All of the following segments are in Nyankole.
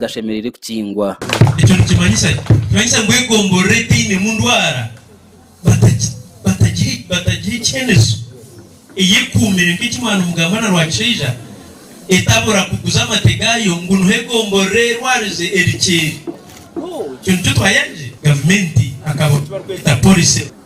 gashemereire kukingwa. Ekyo nikimanyisa ki? Nikimanyisa ngu egomborora etainemu ndwara batagiha ekyemezo eyekuumire nk'eki mwana omugamba na Rwakishaija etabura kuguza amate gaayo ngu niho egomborora erwarize eri kyeeri. Ekyo nikyo twayangire gavumenti akabonero aku barikweta policy.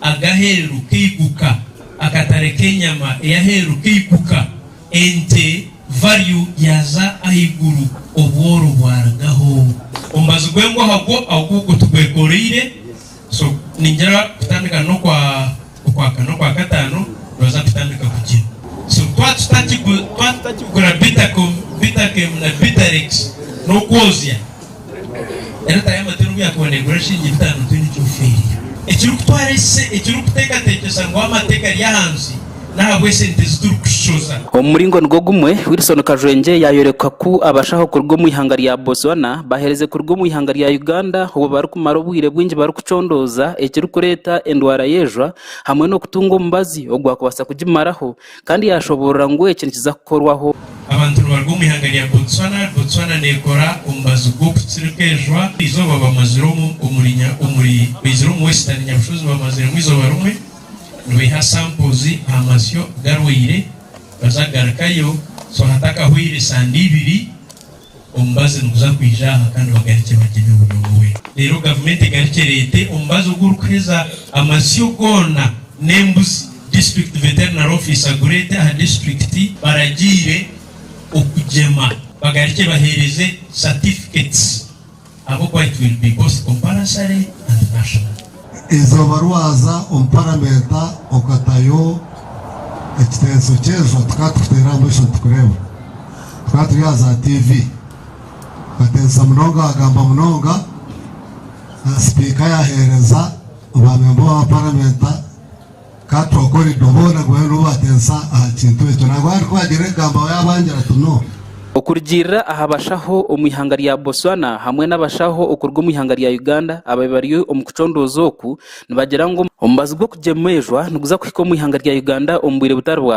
ag'aheeru k'eiguka, akatare k'enyama ey'aheeru k'eiguka, ente value yaaza ahaiguru, obworo bwarugaho. Omubazi gw'engwaha gwo agu gutugwekooreire, so ningira kutandika n'okwa okwakana, okwakataano nooza kutandika kugye. So twaba tutakigura Bitakem, Bitakem na Bitarex n'okwoozya. Enyota y'amatunda obu yakuboneirwe orashusha enyibita ngu twine eki ofiirire. Ekirikutwara ise ekirikuteekateekyesa ngu amato egari ahansi n'ahabw'esente ezi turikushoza. Omu muringo nigwo gumwe, Wilson Kajwengye yaayoreka ku abashaho kuruga omu ihanga rya Botswana baheereze kuruga omu ihanga rya Uganda obu barikumara obwire bwingi barikucondooza ekirikureeta endwara y'ejwa hamwe n'okutunga omubazi ogwakubaasa kugimaraho Kandi yaashoboorora ngu eki nikiza kukorwaho. Abantu nibaruga omu ihanga rya Botswana. Botswana neekora omubazi gw'okutsirika enjwa. Eizooba bamazire omu omuri nya omuri baizire omu Western Nyabushozi bamaziremu eizooba rimwe nibaiha samples aha masyo garwaire baza kugarukayo so hatakahwaire sande ibiri. Omubazi niguza kwija aha kandi bagarikye bagyeme buri omwe. Reero gavumenti egarikye ereete omubazi ogu orikuheza amasyo goona n'embuzi, District Veterinary Office agure ente aha disiturikiti. Baragiire okugyema bagarikye baheereze certificates. Ahabw'okuba it will be both compulsory and national. Eizooba rwaza omu paramenta okatayo ekitenso ky'enjwa tukaba tukiteera aha maisho nitukureeba. Tukaba turi aha za TV. Okatensya munonga wagamba munonga. Sipiika yaheereza ba memba ba paramenta. Ka twokore ibyo boona bube nibubatensa aha kintu ekyo. Nangwa hati ku bagira ebigambo aho yabangira ati, No. Okurugiirira aha bashaho omu ihanga rya Botswana hamwe n'abashaho okuruga omu ihanga rya Uganda abaabaire bari omu kucondooza oku, nibagira ngu omubazi gw'okugyemwa eijwa niguza kuhika omu ihanga rya Uganda omu bwire butari bwa hati.